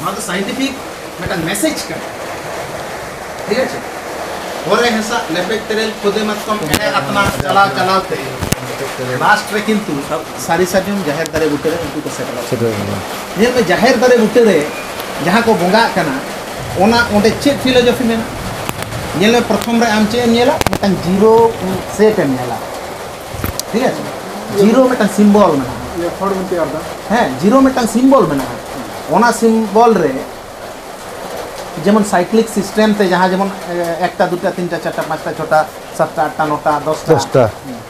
ᱱᱚᱣᱟ ᱫᱚ ᱥᱟᱭᱮᱱᱴᱤᱯᱷᱤᱠ ᱢᱤᱫᱴᱟᱝ ᱢᱮᱥᱮᱡᱽ ᱠᱟᱱᱟ ᱴᱷᱤᱠ ᱟᱪᱷᱮ ᱯᱚᱨᱮ ᱦᱮᱸᱥᱟ ᱞᱮᱯᱮᱡ ᱛᱮᱨᱮᱞ ᱠᱷᱚᱫᱮ ᱢᱟᱛᱠᱚᱢ ᱮᱱᱮ ᱟᱛᱢᱟ ᱪᱟᱞᱟᱣ ᱪᱟᱞᱟᱣ ᱛᱮ ᱞᱟᱥᱴ ᱨᱮ ᱠᱤᱱᱛᱩ ᱥᱟᱹᱨᱤ ᱥᱟᱨᱡᱚᱢ ᱡᱟᱦᱮᱨ ᱫᱟᱨᱮ ᱵᱩᱴᱟᱹ ᱨᱮ ᱩᱱᱠᱩ ᱠᱚ ᱥᱮᱴᱮᱨᱚᱜ ᱠᱟᱱᱟ ᱧᱮᱞ ᱢᱮ ᱡᱟᱦᱮᱨ ᱫᱟᱨᱮ ᱵᱩᱴᱟᱹ ᱨᱮ ᱡᱟᱦᱟᱸ ᱠᱚ ᱵᱚᱸᱜᱟᱜ ᱠᱟᱱᱟ ᱚᱱᱟ ᱚᱸᱰᱮ ᱪᱮᱫ ᱯᱷᱤᱞᱳᱡᱚᱯᱷᱤ ᱢᱮᱱᱟᱜᱼᱟ ᱧᱮᱞ ᱢᱮ ᱯᱨᱚᱛᱷᱚᱢ ᱨᱮ ᱟᱢ ᱪᱮᱫ ᱮᱢ ᱧᱮᱞᱟ ᱢᱤᱫᱴᱟᱝ ᱡᱤᱨᱳ ᱥᱮᱴ ᱮᱢ ᱧᱮᱞᱟ ᱴᱷᱤᱠ ᱟᱪᱷᱮ ᱡᱤᱨᱳ ᱢᱤᱫᱴᱟᱝ ᱥᱤᱢᱵᱚᱞ ᱢᱮᱱᱟᱜᱼᱟ ᱦᱮᱸ ᱡᱤᱨᱳ ᱢᱤᱫᱴᱟᱝ ᱥᱤᱢᱵᱚᱞ ᱢᱮᱱᱟᱜᱼᱟ ᱚᱱᱟ ᱥᱤᱢᱵᱚᱞ ᱨᱮ ᱡᱮᱢᱚᱱ ᱥᱟᱭᱠᱞᱤᱠ ᱥᱤᱥᱴᱮᱢ ᱛᱮ ᱡᱟᱦᱟᱸ ᱡᱮᱢᱚᱱ ᱮᱠᱴᱟ ᱫᱩᱴᱟ ᱛᱤᱱᱴᱟ ᱪᱟᱨᱴᱟ ᱯᱟᱸᱪᱴᱟ ᱪᱷᱚᱴᱟ ᱥᱟᱛᱴᱟ ᱟᱴᱴᱟ ᱱᱚᱴᱟ ᱫᱚᱥᱴᱟ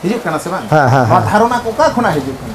ᱦᱤᱡᱩᱜ ᱠᱟᱱᱟ ᱥᱮ ᱵᱟᱝ ᱱᱚᱣᱟ ᱫᱷᱟᱨᱚᱱᱟ ᱚᱠᱟ ᱠᱷᱚᱱᱟᱜ ᱦᱤᱡᱩᱜ ᱠᱟᱱᱟ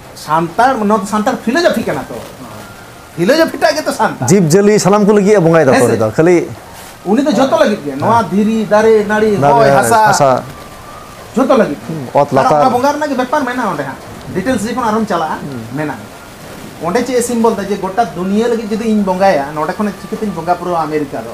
ᱥᱟᱱᱛᱟᱲ ᱱᱚᱣᱟ ᱫᱚ ᱥᱟᱱᱛᱟᱲ ᱯᱷᱤᱞᱳᱡᱚᱯᱷᱤ ᱠᱟᱱᱟ ᱛᱚ ᱯᱷᱤᱞᱳᱡᱚᱯᱷᱤ ᱴᱟᱜ ᱜᱮᱛᱚ ᱥᱟᱱᱛᱟᱲ ᱡᱤᱵᱽ ᱡᱤᱭᱟᱹᱞᱤ ᱥᱟᱱᱟᱢ ᱠᱚ ᱞᱟᱹᱜᱤᱫ ᱵᱚᱸᱜᱟᱭ ᱫᱟᱠᱚ ᱨᱮᱫᱚ ᱠᱷᱟᱹᱞᱤ ᱩᱱᱤ ᱫᱚ ᱡᱚᱛᱚ ᱞᱟᱹᱜᱤᱫ ᱜᱮ ᱱᱚᱣᱟ ᱫᱷᱤᱨᱤ ᱫᱟᱨᱮ ᱱᱟᱹᱲᱤ ᱦᱚᱭ ᱦᱟᱥᱟ ᱡᱚᱛᱚ ᱞᱟᱹᱜᱤᱫ ᱚᱛ ᱞᱟᱛᱟᱨ ᱚᱱᱟ ᱵᱚᱸᱜᱟ ᱨᱮᱱᱟᱜ ᱜᱮ ᱵᱮᱯᱟᱨ ᱢᱮᱱᱟᱜᱼᱟ ᱚᱸᱰᱮ ᱦᱟᱸᱜ ᱰᱤᱴᱮᱞᱥ ᱡᱚᱠᱷᱚᱱ ᱟᱨᱦᱚᱢ ᱪᱟᱞᱟᱜᱼᱟ ᱢᱮᱱᱟᱜᱼᱟ ᱚᱸᱰᱮ ᱪᱮᱫ ᱮ ᱥᱤᱢᱵᱚᱞ ᱫᱟ ᱡᱮ ᱜᱚᱴᱟ ᱫᱩᱱᱤᱭᱟᱹ ᱞᱟᱹᱜᱤᱫ ᱡᱩᱫᱤ ᱤᱧ ᱵᱚᱸᱜᱟᱭᱟ ᱱᱚᱸᱰᱮ ᱠᱷᱚᱱ ᱪᱤᱠᱟᱹᱛᱤᱧ ᱵᱚᱸᱜᱟ ᱯᱩᱨᱟᱹᱣᱟ ᱟᱢᱮᱨᱤᱠᱟ ᱫᱚ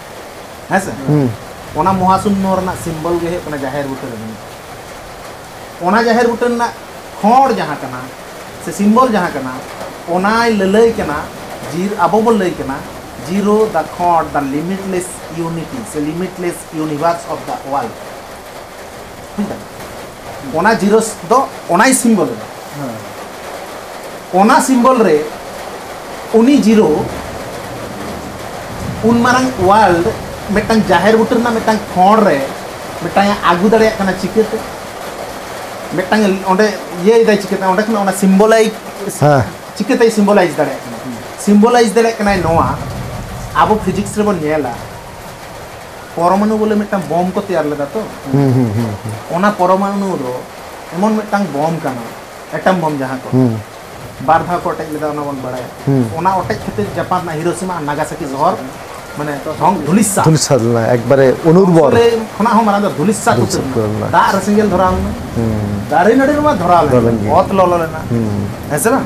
ᱦᱮᱸ ᱥᱮ ᱚᱱᱟ ᱢᱚᱦᱟᱥᱩᱱᱱᱚ ᱨᱮᱱᱟᱜ ᱥᱤᱢᱵᱚᱞ ᱜᱮ ᱦᱩᱭᱩᱜ ᱠᱟᱱᱟ ᱡᱟᱦᱮᱨ ᱵᱩᱴᱟᱹ ᱨᱮ ᱢᱮᱱᱟᱜᱼᱟ ᱚᱱᱟ ᱡᱟᱦᱮᱨ ᱵᱩᱴᱟᱹ ᱨᱮᱱᱟᱜ ᱠᱷᱚᱸᱰ ᱡᱟᱦᱟᱸ ᱠᱟᱱᱟ ᱥᱮ ᱥᱤᱢᱵᱚᱞ ᱡᱟᱦᱟᱸ ᱠᱟᱱᱟ ᱚᱱᱟᱭ ᱞᱟᱹᱞᱟᱹᱭ ᱠᱟᱱᱟ ᱡᱤᱨ ᱟᱵᱚ ᱵᱚ ᱞᱟᱹᱭ ᱠᱟᱱᱟ ᱡᱤᱨᱳ ᱫᱟ ᱠᱷᱚᱸᱰ ᱫᱟ ᱞᱤᱢᱤᱴᱞᱮᱥ ᱤᱭᱩᱱᱤᱴᱤ ᱥᱮ ᱞᱤᱢᱤᱴᱞᱮᱥ ᱤᱭᱩᱱᱤᱵᱷᱟᱨᱥ ᱚᱯᱷ ᱫᱟ ᱳᱣᱟᱨᱞᱰ ᱵᱩᱡᱽ ᱫᱟᱢ ᱚᱱᱟ ᱡᱤᱨᱳᱥ ᱫᱚ ᱚᱱᱟᱭ ᱥᱤᱢᱵᱚᱞ ᱮᱫᱟ ᱚᱱᱟ ᱥᱤᱢᱵᱚᱞ ᱨᱮ ᱩᱱᱤ ᱡᱤᱨᱳ ᱩᱱ ᱢᱟᱨᱟᱝ ᱣᱟᱨᱞᱰ ᱢᱤᱫᱴᱟᱝ ᱡᱟᱦᱮᱨ ᱵᱩᱴᱟᱹ ᱨᱮᱱᱟᱜ ᱢᱤᱫᱴᱟᱝ ᱠᱷᱚᱸᱰ ᱨᱮ ᱢᱤᱫᱴᱟᱝ ᱟᱹᱜᱩ ᱫᱟᱲᱮᱭᱟᱜ ᱠᱟᱱᱟ ᱪᱤᱠᱟᱹᱛᱮ ᱢᱤᱫᱴᱟᱝ ᱚᱸᱰᱮ ᱤᱭᱟᱹᱭᱮᱫᱟᱭ ᱪᱤᱠᱟᱹᱛᱮ ᱚᱸᱰᱮ ᱠᱷᱚᱱ ᱚᱱᱟ ᱥᱤᱢᱵᱚᱞᱟᱭᱤᱡᱽ ᱪᱤᱠᱟᱹᱛᱮᱭ ᱥᱤᱢᱵᱚᱞᱟᱭᱤᱡᱽ ᱫᱟᱲᱮᱭᱟᱜ ᱠᱟᱱᱟ ᱥᱤᱢᱵᱚᱞᱟᱭᱤᱡᱽ ᱫᱟᱲᱮᱭᱟᱜ ᱠᱟᱱᱟᱭ ᱱᱚᱣᱟ ᱟᱵᱚ ᱯᱷᱤᱡᱤᱠᱥ ᱨᱮᱵᱚᱱ ᱧᱮᱞᱟ ᱯᱚᱨᱚᱢᱟᱱᱩ ᱵᱚᱞᱮ ᱢᱤᱫᱴᱟᱝ ᱵᱚᱢ ᱠᱚ ᱛᱮᱭᱟᱨ ᱞᱮᱫᱟ ᱛᱚ ᱚᱱᱟ ᱯᱚᱨᱚᱢᱟᱱᱩ ᱫᱚ ᱮᱢᱚᱱ ᱢᱤᱫᱴᱟᱝ ᱵᱚᱢ ᱠᱟᱱᱟ ᱮᱴᱚᱢ ᱵᱚᱢ ᱡᱟᱦᱟᱸ ᱠᱚ ᱵᱟᱨ ᱫᱷᱟᱣ ᱠᱚ ᱚᱴᱮᱡ ᱞᱮᱫᱟ ᱚᱱᱟ ᱵᱚᱱ ᱵᱟᱲᱟᱭᱟ ᱚᱱᱟ ᱚᱴᱮᱡ ᱠᱷᱟᱹᱛᱤᱨ ᱡᱟᱯᱟᱱ ᱨᱮᱱᱟᱜ ᱦᱤᱨᱳᱥᱤᱢᱟ ᱟᱨ ᱱᱟᱜᱟᱥᱟᱠᱤ ᱥᱚᱦᱚᱨ ᱢᱟᱱᱮ ᱫᱷᱚᱝ ᱫᱷᱩᱞᱤᱥᱟ ᱫᱷᱩᱞᱤᱥᱟ ᱞᱮᱱᱟ ᱮᱠᱵᱟᱨᱮ ᱚᱱᱩᱨᱵᱚᱨ ᱠᱷᱚᱱᱟᱜ ᱦᱚᱸ ᱢᱟᱨᱟᱝ ᱫᱚ ᱫᱷᱩᱞᱤᱥᱟ ᱠᱚ ᱞᱮᱱᱟ ᱫᱟᱜ ᱨᱮ ᱥᱮᱸᱜᱮᱞ ᱫᱷᱚᱨᱟᱣ ᱞᱮᱱᱟ ᱫᱟᱨᱮ ᱱᱟᱹᱲᱤ ᱨᱮᱢᱟ ᱫᱷᱚᱨᱟᱣ ᱞᱮᱱᱟ ᱚᱛ ᱞᱚᱞᱚ ᱞᱮᱱᱟ ᱦᱮᱸ ᱥᱮ ᱵᱟᱝ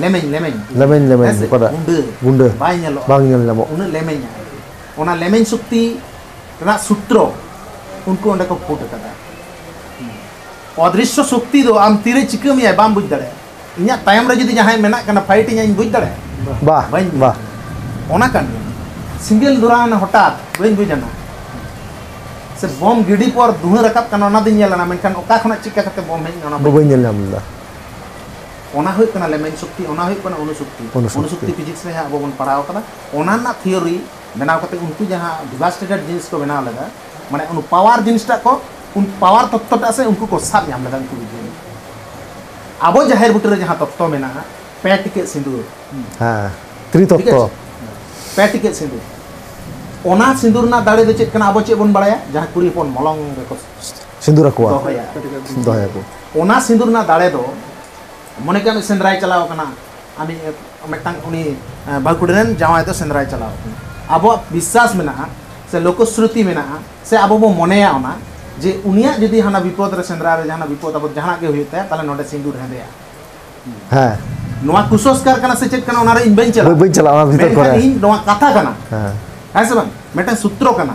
ᱞᱮᱢᱮᱧ ᱞᱮᱢᱮᱧ ᱞᱮᱢᱮᱧ ᱞᱮᱢᱮᱧ ᱚᱠᱟᱴᱟᱜ ᱜᱩᱸᱰᱟᱹ ᱜᱩᱸᱰᱟᱹ ᱵᱟᱭ ᱧᱮᱞᱚᱜᱼᱟ ᱵᱟᱝ ᱧᱮᱞ ᱧᱟᱢᱚᱜ ᱩᱱᱟᱹᱜ ᱞᱮᱢᱮᱧᱟ ᱚᱱᱟ ᱞᱮᱢᱮᱧ ᱥᱚᱠᱛᱤ ᱨᱮᱱᱟᱜ ᱥᱩᱛᱨᱚ ᱩᱱᱠᱩ ᱚᱸᱰᱮ ᱠᱚ ᱯᱷᱩᱴ ᱟᱠᱟᱫᱟ ᱚᱫᱨᱤᱥᱥᱚ ᱥᱚᱠᱛᱤ ᱫᱚ ᱟᱢ ᱛᱤᱨᱮ ᱪᱤᱠᱟᱹ ᱢᱮᱭᱟᱭ ᱵᱟᱢ ᱵᱩᱡᱽ ᱫᱟᱲᱮᱭᱟᱜᱼᱟ ᱤᱧᱟᱹᱜ ᱛᱟᱭᱚᱢ ᱨᱮ ᱡᱩᱫᱤ ᱡᱟᱦᱟᱸᱭ ᱢᱮᱱᱟᱜ ᱠᱟᱱᱟ ᱯᱷᱟᱭᱤᱴ ᱤᱧᱟᱹ ᱤᱧ ᱵᱩᱡᱽ ᱫᱟᱲᱮᱭᱟᱜᱼᱟ ᱵᱟ ᱵᱟᱹᱧ ᱵᱟ ᱚᱱᱟ ᱠᱟᱱ ᱜᱮᱭᱟ ᱥᱤᱸᱜᱮᱞ ᱫᱷᱚᱨᱟᱣᱱᱟ ᱦᱚᱴᱟᱛ ᱵᱟᱹᱧ ᱵᱩᱡᱽ ᱟᱱᱟ ᱥᱮ ᱵᱚᱢ ᱜᱤᱰᱤ ᱯᱚᱨ ᱫᱷᱩᱣᱟᱹ ᱨᱟᱠᱟᱵ ᱠᱟᱱᱟ ᱚᱱᱟ ᱫᱚᱧ ᱧᱮᱞ ᱟᱱᱟ ᱢᱮᱱᱠᱷᱟᱱ ᱚᱠᱟ ᱠᱷᱚᱱᱟᱜ ᱪᱤᱠᱟᱹ ᱠᱟᱛᱮ ᱵᱚᱢ ᱦᱮᱡ ᱮᱱᱟ ᱚᱱᱟ ᱵᱟᱹᱧ ᱧᱮᱞ ᱧᱟᱢ ᱞᱮᱫᱟ ᱚᱱᱟ ᱦᱩᱭᱩᱜ ᱠᱟᱱᱟ ᱞᱮᱢᱮᱧ ᱥᱚᱠᱛᱤ ᱚᱱᱟ ᱦᱩᱭᱩᱜ ᱠᱟᱱᱟ ᱚᱱᱩᱥᱚᱠᱛᱤ ᱚᱱᱩᱥᱚᱠᱛᱤ ᱯᱷᱤᱡᱤᱠᱥ ᱨᱮ ᱡᱟᱦᱟᱸ ᱟᱵᱚ ᱵᱚᱱ ᱯᱟᱲᱦᱟᱣ ᱠᱟᱫᱟ ᱚᱱᱟ ᱨᱮᱱᱟᱜ ᱛᱷᱤᱭᱳᱨᱤ ᱵᱮᱱᱟᱣ ᱠᱟᱛᱮ ᱩᱱᱠᱩ ᱡᱟᱦᱟᱸ ᱰᱤᱵᱷᱟᱥᱴᱮᱴᱮᱰ ᱡᱤᱱᱤᱥ ᱠᱚ ᱵᱮᱱᱟᱣ ᱞᱮᱫᱟ ᱢᱟᱱᱮ ᱩᱱᱠᱩ ᱯᱟᱣᱟᱨ ᱡᱤᱱᱤᱥᱴᱟᱜ ᱠᱚ ᱩᱱ ᱯᱟᱣᱟᱨ ᱛᱚᱛᱛᱚᱴᱟᱜ ᱥᱮ ᱩᱱᱠᱩ ᱠᱚ ᱥᱟᱵ ᱧᱟᱢ ᱞᱮᱫᱟ ᱩᱱᱠᱩ ᱵᱤᱜᱽᱜᱟᱱᱤ ᱟᱵᱚ ᱡᱟᱦᱮᱨ ᱵᱩᱴᱟᱹ ᱨᱮ ᱡᱟᱦᱟᱸ ᱛᱚᱛᱛᱚ ᱢᱮᱱᱟᱜᱼᱟ ᱯᱮ ᱴᱤᱠᱮᱴ ᱥᱤᱸᱫᱩᱨ ᱦᱮᱸ ᱛᱨᱤᱛᱚᱛᱛᱚ ᱯᱮ ᱴᱤᱠᱮᱴ ᱥᱤᱸᱫᱩᱨ ᱚᱱᱟ ᱥᱤᱸᱫᱩᱨ ᱨᱮᱱᱟᱜ ᱫᱟᱲᱮ ᱫᱚ ᱪᱮᱫ ᱠᱟᱱᱟ ᱟᱵᱚ ᱪᱮᱫ ᱵᱚᱱ ᱵᱟᱲᱟᱭᱟ ᱡᱟᱦᱟᱸ ᱠᱩᱲᱤ ᱦᱚᱯᱚᱱ ᱢᱚᱞᱚᱝ ᱨᱮᱠᱚ ᱥᱤᱸᱫᱩᱨ ᱟᱠᱚᱣᱟ ᱫᱚᱦᱚᱭᱟ ᱫᱚᱦᱚᱭᱟ ᱠᱚ ᱚᱱᱟ ᱥᱤᱸᱫᱩᱨ ᱨᱮᱱᱟᱜ ᱫᱟᱲᱮ ᱫᱚ ᱢᱚᱱᱮ ᱠᱟᱜ ᱢᱮ ᱥᱮᱸᱫᱽᱨᱟᱭ ᱪᱟᱞᱟᱣ ᱠᱟᱱᱟ ᱟᱢᱤ ᱢᱤᱫᱴᱟᱝ ᱩᱱᱤ ᱵᱟᱹᱦᱩ ᱠᱩᱲᱤ ᱨᱮᱱ ᱡᱟᱶᱟᱭ ᱫᱚ ᱥᱮᱸᱫᱽᱨᱟᱭ ᱪᱟᱞᱟᱣ ᱠᱟᱱᱟ ᱟᱵᱚᱣᱟᱜ ᱵᱤᱥᱥᱟᱥ ᱢᱮᱱᱟᱜᱼᱟ ᱥᱮ ᱞᱳᱠᱚᱥᱨᱩᱛᱤ ᱢᱮᱱᱟᱜᱼᱟ ᱥᱮ ᱟᱵᱚ ᱵᱚ ᱢᱚᱱᱮᱭᱟ ᱚᱱᱟ ᱡᱮ ᱩᱱᱤᱭᱟᱜ ᱡᱩᱫᱤ ᱦᱟᱱᱟ ᱵᱤᱯᱚᱫ ᱨᱮ ᱥᱮᱸᱫᱽᱨᱟ ᱨᱮ ᱡᱟᱦᱟᱱᱟᱜ ᱵᱤᱯᱚᱫ ᱟᱵᱚ ᱡᱟᱦᱟᱱᱟᱜ ᱜᱮ ᱦᱩᱭᱩᱜ ᱛᱟᱭᱟ ᱛᱟᱦᱞᱮ ᱱᱚᱰᱮ ᱥᱤᱸᱫᱩᱨ ᱦᱮᱸᱫᱮᱜᱼᱟ ᱦᱮᱸ ᱱᱚᱣᱟ ᱠᱩᱥᱚᱥᱠᱟᱨ ᱠᱟᱱᱟ ᱥᱮ ᱪᱮᱫ ᱠᱟᱱᱟ ᱚᱱᱟ ᱨᱮ ᱤᱧ ᱵᱟᱹᱧ ᱪᱟᱞᱟᱜᱼᱟ ᱵᱟᱹᱧ ᱪᱟᱞᱟᱜᱼᱟ ᱚᱱᱟ ᱵᱷᱤᱛᱚᱨ ᱠᱚᱨᱮ ᱤᱧ ᱱᱚᱣᱟ ᱠᱟᱛᱷᱟ ᱠᱟᱱᱟ ᱦᱮᱸ ᱦᱮᱸ ᱥᱮ ᱵᱟᱝ ᱢᱤᱫᱴᱟᱝ ᱥᱩᱛᱨᱚ ᱠᱟᱱᱟ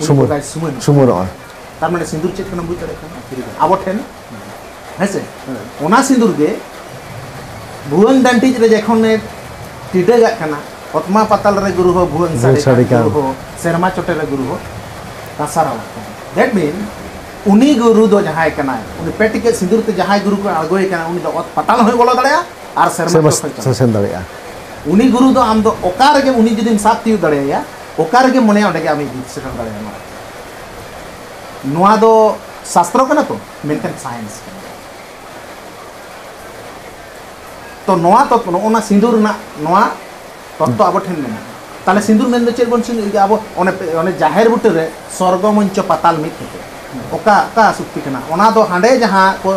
ᱥᱩᱢᱩᱨ ᱥᱩᱢᱩᱨ ᱥᱩᱢᱩᱨᱚᱜᱼᱟ ᱛᱟᱨ ᱢᱟᱱᱮ ᱥᱤᱸᱫᱩᱨ ᱪᱮᱫ ᱠᱟᱱᱟ ᱵᱩᱡᱽ ᱫᱟᱲᱮᱭᱟᱜ ᱠᱟᱱᱟ ᱟᱵᱚ ᱴᱷᱮᱱ ᱦᱮᱸ ᱥᱮ ᱚᱱᱟ ᱥᱤᱸᱫᱩᱨ ᱜᱮ ᱵᱷᱩᱣᱟᱹᱝ ᱰᱟᱱᱴᱤᱡ ᱨᱮ ᱡᱚᱠᱷᱚᱱ ᱮ ᱴᱤᱰᱟᱹᱜᱟᱜ ᱠᱟᱱᱟ ᱚᱛᱢᱟ ᱯᱟᱛᱟᱞ ᱨᱮ ᱜᱩᱨᱩ ᱦᱚᱸ ᱵᱷᱩᱣᱟᱹᱝ ᱥᱟᱰᱮ ᱠᱟᱱ ᱜᱩᱨᱩ ᱦᱚᱸ ᱥᱮᱨᱢᱟ ᱪᱚᱴᱮ ᱨᱮ ᱜᱩᱨᱩ ᱦᱚᱸ ᱫᱟᱥᱟᱨᱟᱣᱟᱜ ᱠᱟᱱᱟ ᱫᱮᱴ ᱢᱤᱱ ᱩᱱᱤ ᱜᱩᱨᱩ ᱫᱚ ᱡᱟᱦᱟᱸᱭ ᱠᱟᱱᱟᱭ ᱩᱱᱤ ᱯᱮ ᱴᱤᱠᱮᱴ ᱥᱤᱸᱫᱩᱨ ᱛᱮ ᱡᱟᱦᱟᱸᱭ ᱜᱩᱨᱩ ᱠᱚ ᱟᱬᱜᱚᱭ ᱠᱟᱱᱟ ᱩᱱᱤ ᱫᱚ ᱚᱛ ᱯᱟᱛᱟᱞ ᱦᱚᱸᱭ ᱵᱚᱞᱚ ᱫᱟᱲᱮᱭᱟᱜᱼᱟ ᱟᱨ ᱥᱮᱨᱢᱟ ᱪᱚᱴ ᱦᱚᱸᱭ ᱥᱮᱱ ᱫᱟᱲᱮᱭᱟᱜᱼᱟ ᱩᱱᱤ ᱜᱩᱨᱩ ᱫᱚ ᱟᱢ ᱫᱚ ᱚᱠᱟ ᱨᱮᱜᱮ ᱩᱱᱤ ᱡᱩᱫᱤᱢ ᱥᱟᱵ ᱛᱤᱭᱳᱜ ᱫᱟᱲᱮᱭᱟᱭᱟ ᱚᱠᱟ ᱨᱮᱜᱮ ᱢᱚᱱᱮᱭᱟ ᱚᱸᱰᱮ ᱜᱮ ᱟᱢ ᱤᱫᱤ ᱥᱮᱴᱮᱨ ᱫᱟᱲᱮᱭᱟᱜᱼᱟ ᱱᱚᱣᱟ ᱱᱚᱣᱟ ᱫᱚ ᱥᱟᱥᱛᱨᱚ ᱠᱟᱱᱟ ᱛᱚ ᱢᱮᱱᱠᱷᱟᱱ ᱥᱟᱭᱮᱱᱥ ᱠᱟᱱᱟ ᱛᱚ ᱱᱚᱣᱟ ᱛᱚ ᱱᱚᱜᱼᱚᱱᱟ ᱥᱤᱸᱫᱩᱨ ᱨᱮᱱᱟᱜ ᱱᱚᱣᱟ ᱛᱚᱛᱛᱚ ᱟᱵᱚ ᱴᱷᱮᱱ ᱢᱮᱱᱟᱜᱼᱟ ᱛᱟᱦᱞᱮ ᱥᱤᱸᱫᱩᱨ ᱢᱮᱱ ᱫᱚ ᱪᱮᱫ ᱵᱚᱱ ᱥᱤᱸᱫᱩᱨ ᱟᱵᱚ ᱚᱱᱮ ᱚᱱᱮ ᱡᱟᱦᱮᱨ ᱵᱩᱴᱟᱹ ᱨᱮ ᱥᱚᱨᱜᱚ ᱢᱚᱧᱪᱚ ᱯᱟᱛᱟᱞ ᱢᱤᱫ ᱠᱟᱛᱮ ᱚᱠᱟ ᱚᱠᱟ ᱥᱩᱠᱛᱤ ᱠᱟᱱᱟ ᱚᱱᱟ ᱫᱚ ᱦᱟᱸᱰᱮ ᱡᱟᱦᱟᱸ ᱠᱚ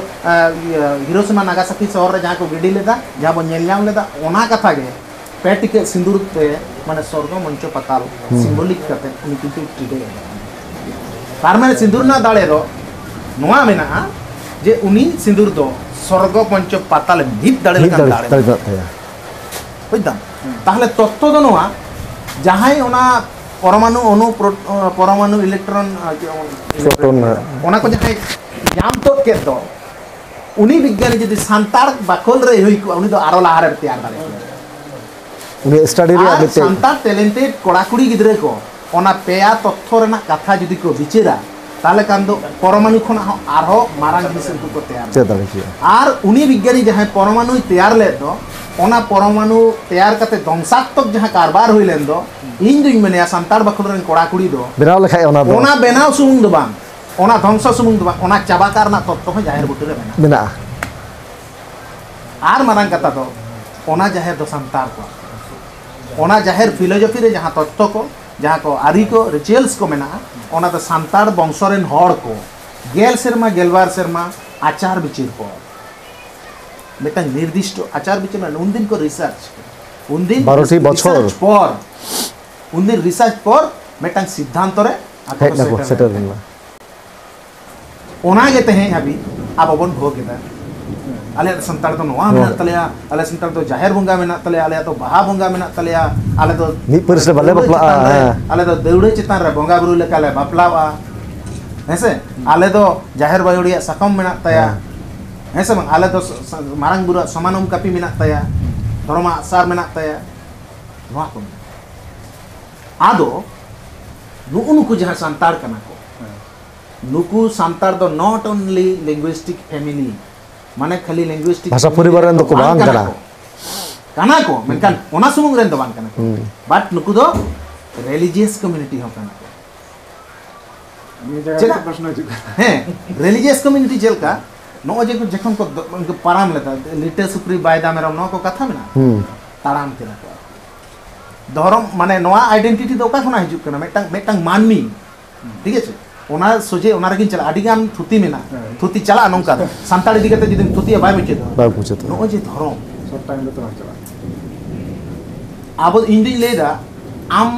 ᱦᱤᱨᱳᱥᱤᱢᱟ ᱱᱟᱜᱟᱥᱟᱠᱤ ᱥᱚᱦᱚᱨ ᱨᱮ ᱡᱟᱦᱟᱸ ᱠᱚ ᱜᱤᱰᱤ ᱞᱮᱫᱟ ᱡᱟᱦᱟᱸ ᱵᱚᱱ ᱧᱮᱞ ᱧᱟᱢ ᱞᱮᱫᱟ ᱚᱱᱟ ᱠᱟᱛᱷᱟ ᱜᱮ ᱯᱮ ᱴᱤᱠᱟᱹᱜ ᱥᱤᱸᱫᱩᱨ ᱛᱮ ᱢᱟᱱᱮ ᱥᱚᱨᱜᱚ ᱢᱚᱧᱪᱚ ᱯᱟᱛᱟᱞ ᱥᱤᱢᱵᱚᱞᱤᱠ ᱠᱟᱛᱮ ᱩᱱᱤ ᱠᱤᱱᱛᱩ ᱴᱨᱤᱴᱮ ᱮᱫᱟ ᱛᱟᱨ ᱢᱟᱱᱮ ᱥᱤᱸᱫᱩᱨ ᱨᱮᱱᱟᱜ ᱫᱟᱲᱮ ᱫᱚ ᱱᱚᱣᱟ ᱢᱮᱱᱟᱜᱼᱟ ᱡᱮ ᱩᱱᱤ ᱥᱤᱸᱫᱩᱨ ᱫᱚ ᱥᱚᱨᱜᱚ ᱢᱚᱧᱪᱚ ᱯᱟᱛᱟᱞ ᱢᱤᱫ ᱫᱟᱲᱮ ᱢᱤᱫ ᱞᱮᱠᱟᱱ ᱫᱟᱲᱮ ᱫᱟᱲᱮ ᱢᱮᱱᱟᱜ ᱛᱟᱭᱟ ᱵᱩᱡᱽ ᱫᱟᱢ ᱛᱟᱦᱞᱮ ᱛᱚᱛᱛᱚ ᱫᱚ ᱱᱚᱣᱟ ᱡᱟᱦᱟᱸᱭ ᱚᱱᱟ ᱯᱚᱨᱢᱟᱱᱩ ᱚᱱᱩ ᱯᱚᱨᱢᱟᱱᱩ ᱤᱞᱮᱠᱴᱨᱚᱱ ᱯᱨᱚᱴᱚᱱ ᱚᱱᱟ ᱠᱚ ᱡᱟᱦᱟᱸᱭ ᱧᱟᱢ ᱛᱚᱫ ᱠᱮᱫ ᱫᱚ ᱩᱱᱤ ᱵᱤᱜᱽᱜᱟᱱᱤ ᱡᱩᱫᱤ ᱥᱟᱱᱛᱟᱲ ᱵᱟᱠᱷᱳᱞ ᱨᱮ ᱦᱩᱭ ᱠᱚᱜᱼᱟ ᱩᱱᱤ ᱫᱚ ᱟᱨᱚ ᱞᱟᱦᱟ ᱨᱮ ᱛᱮᱭᱟᱨ ᱫᱟᱲᱮ ᱠᱚᱣᱟ ᱩᱱᱤ ᱥᱴᱟᱰᱤ ᱨᱮᱭᱟᱜ ᱢᱤᱫᱴᱮᱱ ᱥᱟᱱᱛᱟᱲ ᱴᱮᱞᱮᱱᱴᱮᱰ ᱠᱚᱲᱟ ᱠᱩᱲᱤ ᱜᱤᱫᱽᱨᱟᱹ ᱠᱚ ᱚᱱᱟ ᱯᱮᱭᱟ ᱛᱚᱛᱛᱷᱚ ᱨᱮᱱᱟᱜ ᱠᱟᱛᱷᱟ ᱡᱩᱫᱤ ᱠᱚ ᱵᱤᱪᱟᱹᱨᱟ ᱛᱟᱦᱞᱮ ᱠᱷᱟᱱ ᱫᱚ ᱯᱚᱨᱢᱟᱱᱩ ᱠᱷᱚᱱᱟᱜ ᱦᱚᱸ ᱟᱨᱦᱚᱸ ᱢᱟᱨᱟᱝ ᱡᱤᱱᱤᱥ ᱩᱱᱠᱩ ᱠᱚ ᱛᱮᱭᱟᱨ ᱫᱟᱲᱮ ᱠᱮᱭᱟ ᱟᱨ ᱩᱱᱤ ᱵᱤᱜᱽᱜᱟᱱᱤ ᱡᱟᱦᱟᱸᱭ ᱯᱚᱨᱢᱟᱱᱩᱭ ᱛᱮᱭᱟᱨ ᱞᱮᱫ ᱫᱚ ᱚᱱᱟ ᱯᱚᱨᱢᱟᱱᱩ ᱛᱮᱭᱟᱨ ᱠᱟᱛᱮ ᱫᱚᱝᱥᱟᱛᱢᱚᱠ ᱡᱟᱦᱟᱸ ᱠᱟᱨᱵᱟᱨ ᱦᱩᱭ ᱞᱮᱱ ᱫᱚ ᱤᱧ ᱫᱩᱧ ᱢᱮᱱᱮᱭᱟ ᱥᱟᱱᱛᱟᱲ ᱵᱟᱠᱷᱳᱞ ᱨᱮᱱ ᱠᱚᱲᱟ ᱠᱩᱲᱤ ᱫᱚ ᱵᱮᱱᱟᱣ ᱞᱮᱠᱷᱟᱡ ᱚᱱᱟ ᱫᱚ ᱚᱱᱟ ᱵᱮᱱᱟᱣ ᱥᱩᱢᱩᱝ ᱫᱚ ᱵᱟᱝ ᱚᱱᱟ ᱫᱷᱚᱝᱥᱚ ᱥᱩᱢᱩᱝ ᱫᱚ ᱵᱟᱝ ᱚᱱᱟ ᱪᱟᱵᱟ ᱠᱟᱜ ᱨᱮᱱᱟᱜ ᱛᱚᱛᱛᱚ ᱦᱚᱸ ᱡᱟᱦᱮᱨ ᱵᱩᱴᱟᱹ ᱨᱮ ᱢᱮᱱᱟᱜᱼᱟ ᱢᱮᱱᱟᱜᱼᱟ ᱟᱨ ᱢᱟᱨᱟᱝ ᱠᱟᱛᱷᱟ ᱫᱚ ᱚᱱᱟ ᱡᱟᱦᱮᱨ ᱫᱚ ᱥᱟᱱᱛᱟᱲ ᱠᱚᱣᱟᱜ ᱚᱱᱟ ᱡᱟᱦᱮᱨ ᱯᱷᱤᱞᱳᱡᱚᱯᱷᱤ ᱨᱮ ᱡᱟᱦᱟᱸ ᱛᱚᱛᱛᱚ ᱠᱚ ᱡᱟᱦᱟᱸ ᱠᱚ ᱟᱹᱨᱤ ᱠᱚ ᱨᱤᱪᱩᱭᱮᱞᱥ ᱠᱚ ᱢᱮᱱᱟᱜᱼᱟ ᱚᱱᱟ ᱫᱚ ᱥᱟᱱᱛᱟᱲ ᱵᱚᱝᱥᱚ ᱨᱮᱱ ᱦᱚᱲ ᱠᱚ ᱜᱮᱞ ᱥᱮᱨᱢᱟ ᱜᱮᱞᱵᱟᱨ ᱥᱮᱨᱢᱟ ᱟᱪᱟᱨ ᱵᱤᱪᱟᱹᱨ ᱠᱚ ᱢᱤᱫᱴᱟᱝ ᱱᱤᱨᱫᱤᱥᱴᱚ ᱟᱪᱟᱨ ᱵᱤᱪᱟᱹᱨ ᱢᱮᱱᱟᱜᱼᱟ ᱩᱱᱫᱤᱱ ᱠᱚ ᱨᱤᱥᱟᱨᱪ ᱩᱱᱫᱤᱱ ᱵᱟᱨᱚᱴᱤ ᱵᱚᱪᱷᱚᱨ ᱯᱚᱨ ᱩᱱᱫᱤᱱ ᱨᱤᱥᱟᱨᱪ ᱯᱚᱨ ᱢᱤᱫᱴᱟᱝ ᱥᱤᱫᱽᱫᱷᱟᱱᱛᱚ ᱨᱮ ᱦᱮᱡ ᱱᱟᱠᱚ ᱥᱮᱴᱮᱨ ᱞᱮᱱᱟ ᱚᱱᱟ ᱜᱮ ᱛᱮᱦᱮᱧ ᱦᱟᱹᱵᱤᱡ ᱟᱵᱚ ᱵᱚᱱ ᱵᱷᱳᱜᱽ ᱮᱫᱟ ᱟᱞᱮ ᱥᱟᱱᱛᱟᱲ ᱫᱚ ᱱᱚᱣᱟ ᱢᱮᱱᱟᱜ ᱛᱟᱞᱮᱭᱟ ᱟᱞᱮ ᱥᱟᱱᱛᱟᱲ ᱫᱚ ᱡᱟᱦᱮᱨ ᱵᱚᱸᱜᱟ ᱢᱮᱱᱟᱜ ᱛᱟᱞᱮᱭᱟ ᱟᱞᱮ ᱫᱚ ᱵᱟᱦᱟ ᱵᱚᱸᱜᱟ ᱢᱮᱱᱟᱜ ᱛᱟᱞᱮᱭᱟ ᱟᱞᱮ ᱫᱚ ᱢᱤᱫ ᱯᱟᱹᱨᱤᱥ ᱨᱮ ᱵᱟᱞᱮ ᱵᱟᱯᱞᱟᱜᱼᱟ ᱟᱞᱮ ᱫᱚ ᱫᱟᱹᱣᱲᱟᱹ ᱪᱮᱛᱟᱱ ᱨᱮ ᱵᱚᱸᱜᱟ ᱵᱩᱨᱩ ᱞᱮᱠᱟ ᱞᱮ ᱵᱟᱯᱞᱟᱜᱼᱟ ᱦᱮᱸᱥᱮ ᱟᱞᱮ ᱫᱚ ᱡᱟᱦᱮᱨ ᱵᱟᱭᱳ ᱨᱮᱭᱟᱜ ᱥᱟᱠᱚᱢ ᱢᱮᱱᱟᱜ ᱛᱟᱭᱟ ᱦᱮᱸᱥᱮ ᱵᱟᱝ ᱟᱞᱮ ᱫᱚ ᱢᱟᱨᱟᱝ ᱵᱩᱨᱩ ᱥᱚᱢᱟᱱᱚᱢ ᱠᱟᱹᱯᱤ ᱢᱮᱱᱟᱜ ᱛᱟᱭᱟ ᱫᱷᱚᱨᱚᱢᱟᱜ ᱥᱟᱨ ᱢᱮᱱᱟᱜ ᱛᱟᱭᱟ ᱱᱚᱣᱟ ᱠᱚ ᱢᱮᱱᱟᱜᱼᱟ ᱟᱫᱚ ᱱᱩᱜᱩ ᱱᱩᱠᱩ ᱡᱟᱦᱟᱸ ᱥᱟᱱᱛᱟᱲ ᱠᱟᱱᱟ ᱠᱚ ᱱᱩᱠᱩ ᱥᱟᱱᱛᱟᱲ ᱫᱚ ᱱᱚᱴ ᱚᱱᱞᱤ ᱞᱤᱝᱜᱩᱤᱥᱴᱤᱠ ᱯᱷᱮᱢᱤᱞᱤ ᱢᱟᱱᱮ ᱠᱷᱟᱹᱞᱤ ᱞᱤᱝᱜᱩᱤᱥᱴᱤᱠ ᱵᱷᱟᱥᱟ ᱯᱚᱨᱤᱵᱟᱨ ᱨᱮᱱ ᱫᱚ ᱠᱚ ᱵᱟᱝ ᱠᱟᱱᱟ ᱠᱟᱱᱟ ᱠᱚ ᱢᱮᱱᱠᱷᱟᱱ ᱚᱱᱟ ᱥᱩᱢᱩᱝ ᱨᱮᱱ ᱫᱚ ᱵᱟᱝ ᱠᱟᱱᱟ ᱠᱚ ᱵᱟᱴ ᱱᱩᱠᱩ ᱫᱚ ᱨᱮᱞᱤᱡᱤᱭᱟᱥ ᱠᱚᱢᱤᱩᱱᱤᱴᱤ ᱦᱚᱸ ᱠᱟᱱᱟ ᱪᱮᱫᱟᱜ ᱯᱨᱚᱥᱱᱚ ᱦᱤᱡᱩᱜ ᱠᱟᱱᱟ ᱦᱮᱸ ᱨᱮᱞᱤᱡᱤᱭᱟᱥ ᱠᱚᱢᱤᱩᱱᱤᱴᱤ ᱪᱮᱫ ᱞᱮᱠᱟ ᱱᱚᱜᱼᱚᱭ ᱡᱮ ᱡᱚᱠᱷᱚᱱ ᱠᱚ ᱯᱟᱨᱟᱢ ᱞᱮᱫᱟ ᱞᱤᱴᱟᱹ ᱥᱩᱠᱨᱤ ᱵᱟᱭᱫᱟ ᱢᱮᱨᱚᱢ ᱱᱚᱣᱟ ᱠᱚ ᱠᱟᱛᱷᱟ ᱢᱮᱱᱟᱜᱼᱟ ᱛᱟᱲᱟᱢ ᱠᱮᱫᱟ ᱠᱚ ᱫᱷᱚᱨᱚᱢ ᱢᱟᱱᱮ ᱱᱚᱣᱟ ᱟᱭᱰᱮᱱᱴᱤᱴᱤ ᱫᱚ ᱚᱠᱟ ᱠᱷᱚᱱᱟᱜ ᱦᱤᱡᱩᱜ ᱠᱟᱱᱟ ᱢᱤᱫᱴᱟᱝ ᱢᱤᱫᱴᱟᱝ ᱢᱟᱹᱱᱢᱤ ᱴᱷᱤᱠ ᱟᱪᱷᱮ ᱚᱱᱟ ᱥᱚᱡᱷᱮ ᱚᱱᱟ ᱨᱮᱜᱮᱧ ᱪᱟᱞᱟᱜᱼᱟ ᱟᱹᱰᱤ ᱜᱟᱱ ᱛᱷᱩᱛᱤ ᱢᱮᱱᱟᱜᱼᱟ ᱛᱷᱩᱛᱤ ᱪᱟᱞᱟᱜᱼᱟ ᱱᱚᱝᱠᱟ ᱫᱚ ᱥᱟᱱᱛᱟᱲ ᱤᱫᱤ ᱠᱟᱛᱮ ᱡᱩᱫᱤᱢ ᱛᱷᱩᱛᱤᱭᱟ ᱵᱟᱭ ᱢᱩᱪᱟᱹᱫᱚᱜᱼᱟ ᱵᱟᱭ ᱢᱩᱪᱟᱹᱫᱚᱜᱼᱟ ᱱᱚᱜᱼᱚᱭ ᱡᱮ ᱫᱷᱚᱨᱚᱢ ᱥᱚᱨᱴ ᱴᱟᱭᱤᱢ ᱨᱮ ᱛᱚ ᱵᱟᱝ ᱪᱟᱞᱟᱜᱼᱟ ᱟᱵᱚ ᱤᱧ ᱫᱩᱧ ᱞᱟᱹᱭᱫᱟ ᱟᱢ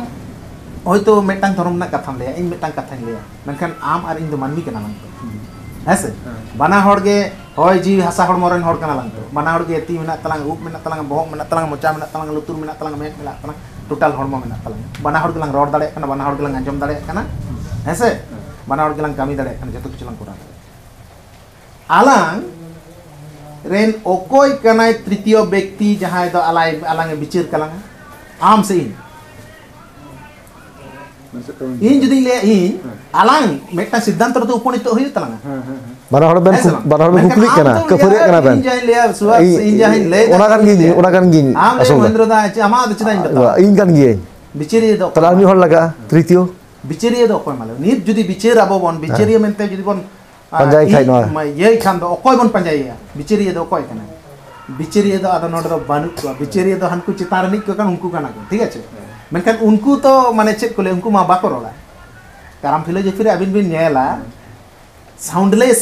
ᱦᱚᱭᱛᱳ ᱢᱤᱫᱴᱟᱝ ᱫᱷᱚᱨᱚᱢ ᱨᱮᱱᱟᱜ ᱠᱟᱛᱷᱟᱢ ᱞᱟᱹᱭᱟ ᱤᱧ ᱢᱤᱫᱴᱟᱝ ᱠᱟᱛᱷᱟᱧ ᱞᱟᱹᱭᱟ ᱢᱮᱱᱠᱷᱟᱱ ᱟᱢ ᱟᱨ ᱤᱧ ᱫᱚ ᱢᱟᱹᱱᱢᱤ ᱠᱟᱱᱟ ᱞᱟᱝ ᱛᱚ ᱦᱮᱸ ᱥᱮ ᱵᱟᱱᱟ ᱦᱚᱲ ᱜᱮ ᱦᱚᱭ ᱡᱤᱣᱤ ᱦᱟᱥᱟ ᱦᱚᱲᱢᱚ ᱨᱮᱱ ᱦᱚᱲ ᱠᱟᱱᱟ ᱞᱟᱝ ᱛᱚ ᱵᱟᱱᱟ ᱦᱚᱲ ᱜᱮ ᱛᱤ ᱢᱮᱱᱟᱜ ᱛᱟᱞᱟᱝ ᱩᱵ ᱢᱮᱱᱟᱜ ᱛᱟᱞᱟᱝ ᱵᱚᱦᱚᱜ ᱢᱮᱱᱟᱜ ᱛᱟᱞᱟᱝ ᱢᱚᱪᱟ ᱢᱮᱱᱟᱜ ᱛᱟᱞᱟᱝ ᱞᱩᱛᱩᱨ ᱢᱮᱱᱟᱜ ᱛᱟᱞᱟᱝ ᱢᱮᱫ ᱢᱮᱱᱟᱜ ᱛᱟᱞᱟᱝ ᱴᱳᱴᱟᱞ ᱦᱚᱲᱢᱚ ᱢᱮᱱᱟᱜ ᱛᱟᱞᱟᱝ ᱵᱟᱱᱟ ᱦᱚᱲ ᱜᱮᱞᱟᱝ ᱨᱚᱲ ᱫᱟᱲᱮᱭᱟᱜ ᱠᱟᱱᱟ ᱵᱟᱱᱟ ᱦᱚᱲ ᱜᱮᱞᱟᱝ ᱟᱸᱡᱚᱢ ᱫᱟᱲᱮᱭᱟᱜ ᱠᱟᱱᱟ ᱦᱮᱸ ᱥᱮ ᱵᱟᱱᱟ ᱦᱚᱲ ᱜᱮᱞᱟᱝ ᱠᱟᱹᱢᱤ ᱫᱟᱲᱮᱭᱟᱜ ᱠᱟᱱᱟ ᱡᱚᱛᱚ ᱠᱤᱪᱷᱩ ᱞᱟᱝ ᱠᱚᱨᱟᱣ ᱫᱟᱲᱮᱭᱟᱜ ᱠᱟᱱᱟ ᱟᱞᱟᱝ ᱨᱮᱱ ᱚᱠᱚᱭ ᱠᱟᱱᱟᱭ ᱛᱨᱤᱛᱤᱭᱚ ᱵᱮᱠᱛᱤ ᱡᱟᱦᱟᱸᱭ ᱫᱚ ᱟᱞᱟᱭ ᱟᱞᱟᱝ ᱮ ᱵᱤᱪᱟᱹᱨ ᱠᱟᱞᱟᱝᱟ ᱟᱢ ᱥᱮ ᱤᱧ ᱤᱧ ᱡᱩᱫᱤᱧ ᱞᱟᱹᱭᱟ ᱤᱧ ᱟᱞᱟᱝ ᱢᱤᱫᱴᱟᱝ ᱥᱤᱫᱽᱫᱷᱟᱱᱛᱚ ᱨᱮᱫᱚ ᱩᱯᱚᱱᱤᱛᱚ ᱦᱩᱭᱩᱜ ᱛᱟᱞᱟᱝᱟ ᱵᱟᱱᱟ ᱦᱚᱲ ᱵᱮᱱ ᱵᱟᱱᱟ ᱦᱚᱲ ᱵᱮᱱ ᱠᱩᱠᱞᱤᱜ ᱠᱟᱱᱟ ᱠᱟᱹᱯᱷᱟᱹᱨᱤᱜ ᱠᱟᱱᱟ ᱵᱮᱱ ᱤᱧ ᱡᱟᱦᱟᱸᱧ ᱞᱟᱹᱭᱟ ᱥᱩᱣᱟᱥ ᱤᱧ ᱡᱟᱦᱟᱸᱧ ᱞᱟᱹᱭ ᱚᱱᱟ ᱠᱟᱱ ᱜᱤᱧ ᱚᱱᱟ ᱠᱟᱱ ᱜᱤᱧ ᱟᱢ ᱞᱟᱹᱭ ᱢᱚᱦᱮᱱᱫᱨᱚ ᱫᱟ ᱟᱢᱟᱜ ᱫᱚ ᱪᱮᱫᱟᱜ ᱤᱧ ᱵᱟᱛᱟᱣᱟ ᱤᱧ ᱠᱟᱱ ᱜᱤᱭᱟᱹᱧ ᱵᱤᱪᱟᱹᱨᱤᱭᱟᱹ ᱫᱚ ᱛᱟᱦᱞᱮ ᱟᱨ ᱢᱤᱫ ᱦᱚᱲ ᱞᱟᱜᱟᱜᱼᱟ ᱛᱨᱤᱛᱤᱭᱚ ᱵᱤᱪᱟᱹᱨᱤᱭᱟᱹ ᱫᱚ ᱚᱠᱚᱭ ᱢᱟᱞᱮ ᱱᱤᱛ ᱡᱩᱫᱤ ᱵᱤᱪᱟᱹᱨ ᱟᱵᱚ ᱵᱚᱱ ᱵᱤᱪᱟᱹᱨᱤᱭᱟᱹ ᱢᱮᱱᱛᱮ ᱡᱩᱫᱤ ᱵᱚᱱ ᱯᱟᱸᱡᱟᱭ ᱠᱷᱟᱡ ᱱᱚᱣᱟ ᱤᱭᱟᱹᱭ ᱠᱷᱟᱱ ᱫᱚ ᱚᱠᱚᱭ ᱵᱚᱱ ᱯᱟᱸᱡᱟᱭᱮᱭᱟ ᱵᱤᱪᱟᱹᱨᱤᱭᱟᱹ ᱫᱚ ᱚᱠᱚᱭ ᱠᱟᱱᱟᱭ ᱵᱤᱪᱟᱹᱨᱤᱭᱟᱹ ᱫᱚ ᱟᱫᱚ ᱱᱚᱰᱮ ᱫᱚ ᱵᱟᱹᱱᱩᱜ ᱠᱚᱣᱟ ᱵᱤᱪᱟᱹᱨᱤᱭᱟᱹ ᱫᱚ ᱦᱟᱱᱠᱩ ᱪᱮᱛᱟᱱ ᱨᱤᱱᱤᱡ ᱠᱚ ᱠᱟᱱᱟ ᱩᱱᱠᱩ ᱠᱟᱱᱟ ᱠᱚ ᱴᱷᱤᱠ ᱟᱪᱷᱮ ᱢᱮᱱᱠᱷᱟᱱ ᱩᱱᱠᱩ ᱛᱚ ᱢᱟᱱᱮ ᱪᱮᱫ ᱠᱚ ᱞᱟᱹᱭᱟ ᱩᱱᱠᱩ ᱢᱟ ᱵᱟᱠᱚ ᱨᱚᱲᱟ ᱠᱟᱨᱟᱢ ᱯᱷᱤᱞᱳᱡᱚᱯᱷᱤ ᱨᱮ ᱟᱹᱵᱤᱱ ᱵᱤᱱ ᱧᱮᱞᱟ ᱥᱟᱣᱩᱱᱰᱞᱮᱥ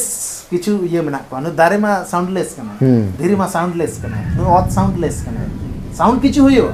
ᱠᱤᱪᱷᱩ ᱤᱭᱟᱹ ᱢᱮᱱᱟᱜ ᱠᱚᱣᱟ ᱱᱩᱭ ᱫᱟᱨᱮ ᱢᱟ ᱥᱟᱣᱩᱱᱰᱞᱮᱥ ᱠᱟᱱᱟ ᱫᱷᱤᱨᱤ ᱢᱟ ᱥᱟᱣᱩᱱᱰᱞᱮᱥ ᱠᱟᱱᱟ ᱱᱩᱭ ᱚᱛ ᱥᱟᱣᱩᱱᱰᱞᱮᱥ ᱠᱟᱱᱟ ᱥᱟᱣᱩᱱᱰ ᱠᱤᱪᱷᱩ ᱦᱩᱭᱩᱜᱼᱟ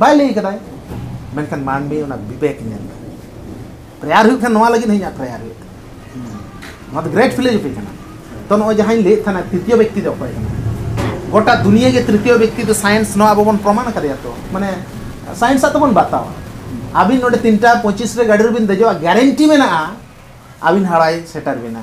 ᱵᱟᱭ ᱞᱟᱹᱭ ᱠᱟᱫᱟᱭ ᱢᱮᱱᱠᱷᱟᱱ ᱢᱟᱹᱱᱢᱤ ᱚᱱᱟ ᱵᱤᱵᱮᱠ ᱧᱮᱞ ᱫᱟ ᱯᱨᱮᱭᱟᱨ ᱦᱩᱭᱩᱜ ᱠᱷᱟᱱ ᱱᱚᱣᱟ ᱞᱟᱹᱜᱤᱫ ᱤᱧᱟᱹᱜ ᱯᱨᱮᱭᱟᱨ ᱦᱩᱭᱩᱜ ᱱᱚᱣᱟ ᱫᱚ ᱜᱨᱮᱴ ᱯᱷᱤᱞᱳᱡᱚᱯᱷᱤ ᱠᱟᱱᱟ ᱛᱚ ᱱᱚᱜᱼᱚᱭ ᱡᱟᱦᱟᱸᱧ ᱞᱟᱹᱭᱮᱫ ᱛᱟᱦᱮᱱᱟ ᱛᱨᱤᱛᱤᱭᱚ ᱵᱮᱠᱛᱤ ᱫᱚ ᱚᱠᱚᱭ ᱠᱟᱱᱟ ᱜᱚᱴᱟ ᱫᱩᱱᱤᱭᱟᱹ ᱜᱮ ᱛᱨᱤᱛᱤᱭᱚ ᱵᱮᱠᱛᱤ ᱫᱚ ᱥᱟᱭᱮᱱᱥ ᱱᱚᱣᱟ ᱟᱵᱚ ᱵᱚᱱ ᱯᱨᱚᱢᱟᱱ ᱠᱟᱫᱮᱭᱟ ᱛᱚ ᱢᱟᱱᱮ ᱥᱟᱭᱮᱱᱥ ᱟᱜ ᱫᱚᱵᱚᱱ ᱵᱟᱛᱟᱣᱟ ᱟᱹᱵᱤᱱ ᱱᱚᱰᱮ ᱛᱤᱱᱴᱟ ᱯᱚᱸᱪᱤᱥ ᱨᱮ ᱜᱟᱹᱰᱤ ᱨᱮᱵᱤᱱ ᱫᱮᱡᱚᱜᱼᱟ ᱜᱮᱨᱮᱱᱴᱤ ᱢᱮᱱᱟᱜᱼᱟ ᱟᱹᱵᱤᱱ ᱦᱟᱣᱲᱟᱭ ᱥᱮᱴᱮᱨ ᱵᱤᱱᱟ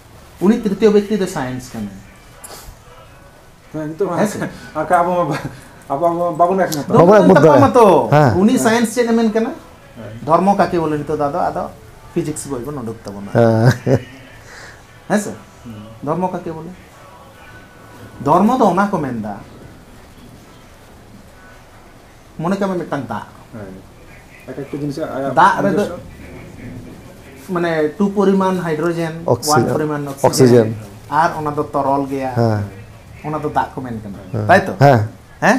ᱩᱱᱤ ᱛᱨᱤᱛᱤᱭᱚ ᱵᱮᱠᱛᱤ ᱫᱚ ᱥᱟᱭᱮᱱᱥ ᱠᱟᱱᱟᱭ ᱱᱤᱛᱚᱜ ᱟᱠᱟ ᱟᱵᱚ ᱟᱵᱚ ᱵᱟᱵᱚᱱ ᱮᱠᱢᱚᱛ ᱵᱟᱵᱚᱱ ᱮᱠᱢᱚᱛ ᱫᱟᱲᱮᱭᱟᱜᱼᱟ ᱛᱚ ᱩᱱᱤ ᱥᱟᱭᱮᱱᱥ ᱪᱮᱫ ᱮ ᱢᱮᱱ ᱠᱟᱱᱟ ᱫᱷᱚᱨᱢᱚ ᱠᱟᱠᱮ ᱵᱚᱞᱮ ᱱᱤᱛᱚᱜ ᱫᱚ ᱟᱫᱚ ᱟᱫᱚ ᱯᱷᱤᱡᱤᱠᱥ ᱵᱳᱭ ᱵᱚᱱ ᱩᱰᱩᱠ ᱛᱟᱵᱚᱱᱟ ᱦᱮᱸ ᱥᱮ ᱫᱷᱚᱨᱢᱚ ᱠᱟᱠᱮ ᱵᱚᱞᱮ ᱫᱷᱚᱨᱢᱚ ᱫᱚ ᱚᱱᱟ ᱠᱚ ᱢᱮᱱᱫᱟ ᱢᱚᱱᱮ ᱠᱟᱜ ᱢᱮ ᱢᱤᱫᱴᱟᱝ ᱫᱟᱜ ᱫᱟᱜ ᱨᱮᱫᱚ ᱢᱟᱱᱮ ᱴᱩ ᱯᱚᱨᱤᱢᱟᱱ ᱦᱟᱭᱰᱨᱳᱡᱮᱱ ᱳᱣᱟᱱ ᱯᱚᱨᱤᱢᱟᱱ ᱚᱠᱥᱤᱡᱮᱱ ᱟᱨ ᱚᱱᱟ ᱫᱚ ᱛᱚᱨᱚᱞ ᱜᱮᱭᱟ ᱦᱮᱸ ᱚᱱᱟ ᱫᱚ ᱫᱟᱜ ᱠᱚ ᱢᱮᱱ ᱠᱟᱱᱟ ᱛᱟᱭ ᱛᱚ ᱦᱮᱸ ᱦᱮᱸ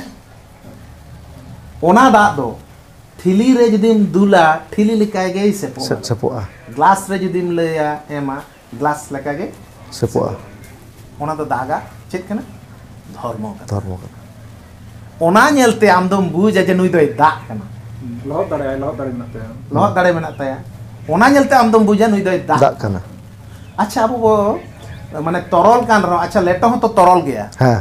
ᱚᱱᱟ ᱫᱟᱜ ᱫᱚ ᱴᱷᱤᱞᱤ ᱨᱮ ᱡᱩᱫᱤᱢ ᱫᱩᱞᱟ ᱴᱷᱤᱞᱤ ᱞᱮᱠᱟ ᱜᱮᱭ ᱥᱮᱯᱚᱜᱼᱟ ᱥᱮᱯᱚᱜᱼᱟ ᱜᱞᱟᱥ ᱨᱮ ᱡᱩᱫᱤᱢ ᱞᱟᱹᱭᱟ ᱮᱢᱟ ᱜᱞᱟᱥ ᱞᱮᱠᱟ ᱜᱮ ᱥᱮᱯᱚᱜᱼᱟ ᱚᱱᱟ ᱫᱚ ᱫᱟᱜᱟ ᱪᱮᱫ ᱠᱟᱱᱟ ᱫᱷᱚᱨᱢᱚ ᱠᱟᱱᱟ ᱫᱷᱚᱨᱢᱚ ᱠᱟᱱᱟ ᱚᱱᱟ ᱧᱮᱞᱛᱮ ᱟᱢ ᱫᱚᱢ ᱵᱩᱡᱟ ᱡᱮ ᱱᱩᱭ ᱫᱚᱭ ᱫᱟᱜ ᱠᱟᱱᱟ ᱞᱚᱦᱚᱫ ᱫᱟᱲᱮᱭᱟᱜᱼᱟ ᱞᱚᱦᱚᱫ ᱫᱟᱲᱮ ᱢᱮᱱᱟᱜ ᱛᱟᱭᱟ ᱞᱚᱦᱚᱫ ᱫᱟᱲᱮ ᱢᱮᱱᱟᱜ ᱛᱟᱭᱟ ᱚᱱᱟ ᱧᱮᱞᱛᱮ ᱟᱢ ᱫᱚᱢ ᱵᱩᱡᱟ ᱱᱩᱭ ᱫᱚᱭ ᱫᱟᱜ ᱠᱟᱱᱟ ᱟᱪᱪᱷᱟ ᱟᱵᱚ ᱵᱚ ᱢᱟᱱᱮ ᱛᱚᱨᱚᱞ ᱠᱟᱱ ᱨᱮᱦᱚᱸ ᱟᱪᱪᱷᱟ ᱞᱮᱴᱚ ᱦᱚᱸᱛᱚ ᱛᱚᱨᱚᱞ ᱜᱮᱭᱟ ᱦᱮᱸ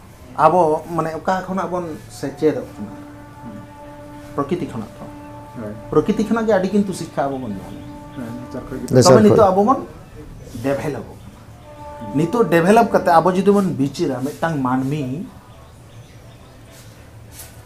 ᱟᱵᱚ ᱢᱟᱱᱮ ᱚᱠᱟ ᱠᱷᱚᱱᱟᱜ ᱵᱚᱱ ᱥᱮᱪᱮᱫᱚᱜ ᱠᱟᱱᱟ ᱯᱨᱚᱠᱤᱛᱤ ᱠᱷᱚᱱᱟᱜ ᱛᱚ ᱯᱨᱚᱠᱤᱛᱤ ᱠᱷᱚᱱᱟᱜ ᱜᱮ ᱟᱹᱰᱤ ᱠᱤᱱᱛᱩ ᱥᱤᱠᱠᱷᱟ ᱟᱵᱚ ᱵᱚᱱ ᱧᱟᱢᱟ ᱛᱚᱵᱮ ᱱᱤᱛᱚᱜ ᱟᱵᱚ ᱵᱚᱱ ᱰᱮᱵᱷᱮᱞᱚᱯᱚᱜ ᱠᱟᱱᱟ ᱱᱤᱛᱚᱜ ᱰᱮᱵᱷᱮᱞᱚᱯ ᱠᱟᱛᱮ ᱟᱵᱚ ᱡᱩᱫᱤ ᱵᱚᱱ ᱵᱤᱪᱟᱹᱨᱟ ᱢᱤᱫᱴᱟᱝ ᱢᱟᱹᱱᱢᱤ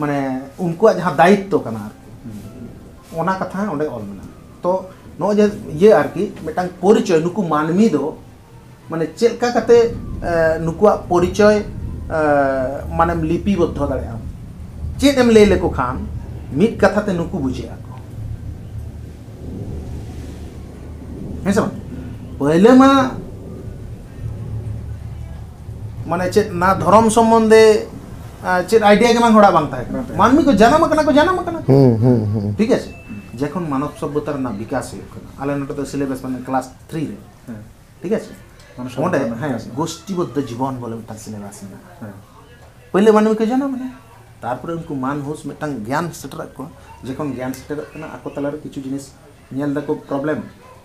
ᱢᱟᱱᱮ ᱩᱱᱠᱩᱣᱟᱜ ᱡᱟᱦᱟᱸ ᱫᱟᱭᱤᱛᱛᱚ ᱠᱟᱱᱟ ᱟᱨᱠᱤ ᱚᱱᱟ ᱠᱟᱛᱷᱟ ᱦᱚᱸ ᱚᱸᱰᱮ ᱚᱞ ᱢᱮᱱᱟᱜᱼᱟ ᱛᱚ ᱱᱚᱜᱼᱚᱭ ᱡᱮ ᱤᱭᱟᱹ ᱟᱨᱠᱤ ᱢᱤᱫᱴᱟᱝ ᱯᱚᱨᱤᱪᱚᱭ ᱱᱩᱠᱩ ᱢᱟᱹᱱᱢᱤ ᱫᱚ ᱢᱟᱱᱮ ᱪᱮᱫ ᱞᱮᱠᱟ ᱠᱟᱛᱮ ᱱᱩᱠᱩᱣᱟᱜ ᱯᱚᱨᱤᱪᱚᱭ ᱢᱟᱱᱮᱢ ᱞᱤᱯᱤ ᱵᱚᱫᱽᱫᱷᱚ ᱫᱟᱲᱮᱭᱟᱜᱼᱟ ᱪᱮᱫ ᱮᱢ ᱞᱟᱹᱭ ᱞᱮᱠᱚ ᱠᱷᱟᱱ ᱢᱤᱫ ᱠᱟᱛᱷᱟ ᱛᱮ ᱱᱩᱠᱩ ᱵᱩᱡᱷᱟᱹᱜ ᱟᱠᱚ ᱦᱮᱸ ᱥᱮ ᱵᱟᱝ ᱯᱟᱹᱭᱞᱟᱹ ᱢᱟ ᱢᱟᱱᱮ ᱪᱮᱫ ᱱᱟ ᱫᱷᱚᱨᱚᱢ ᱥᱚᱢᱵᱚᱱᱫᱷᱮ ᱪᱮᱫ ᱟᱭᱰᱤᱭᱟ ᱜᱮ ᱵᱟᱝ ᱦᱚᱲᱟᱜ ᱵᱟᱝ ᱛᱟᱦᱮᱸ ᱠᱟᱱᱟ ᱢᱟᱹᱱᱢᱤ ᱠᱚ ᱡᱟᱱᱟᱢ ᱟᱠᱟᱱᱟ ᱠᱚ ᱡᱟᱱᱟᱢ ᱟᱠᱟᱱᱟ ᱴᱷᱤᱠ ᱟᱪᱷᱮ ᱡᱚᱠᱷᱚᱱ ᱢᱟᱱᱚᱵ ᱥᱚᱵᱽᱵᱷᱚᱛᱟ ᱨᱮᱱᱟᱜ ᱵᱤᱠᱟᱥ ᱦᱩᱭᱩᱜ ᱠᱟᱱᱟ ᱟᱞᱮ ᱱᱚᱰᱮ ᱫᱚ ᱥᱤᱞᱮᱵᱟᱥ ᱢᱟᱱᱮ ᱠᱞᱟᱥ ᱛᱷᱨᱤ ᱨᱮ ᱴᱷᱤᱠ ᱟᱪᱷᱮ ᱚᱸᱰᱮ ᱦᱮᱸ ᱜᱳᱥᱴᱤᱵᱚᱫᱽᱫᱷᱚ ᱡᱤᱵᱚᱱ ᱵᱚᱞᱮ ᱢᱤᱫᱴᱟᱝ ᱥᱤᱞᱮᱵᱟᱥ ᱢᱮᱱᱟᱜᱼᱟ ᱯᱳᱭᱞᱳ ᱢᱟᱹᱱᱢᱤ ᱠᱚ ᱡᱟᱱᱟᱢ ᱮᱱᱟ ᱛᱟᱨᱯᱚᱨᱮ ᱩᱱᱠᱩ ᱢᱟᱱ ᱦᱩᱥ ᱢᱤᱫᱴᱟᱝ ᱜᱮᱭᱟᱱ ᱥᱮᱴᱮᱨᱟᱜ ᱠᱚᱣᱟ ᱡᱚᱠᱷᱚᱱ ᱜᱮᱭᱟᱱ ᱥᱮᱴᱮᱨᱚᱜ ᱠᱟᱱᱟ ᱟᱠᱚ ᱛᱟᱞᱟᱨᱮ ᱠᱤᱪᱷᱩ ᱡᱤᱱᱤᱥ ᱧᱮᱞ ᱫᱟᱠᱚ ᱯᱨᱚᱵᱞᱮᱢ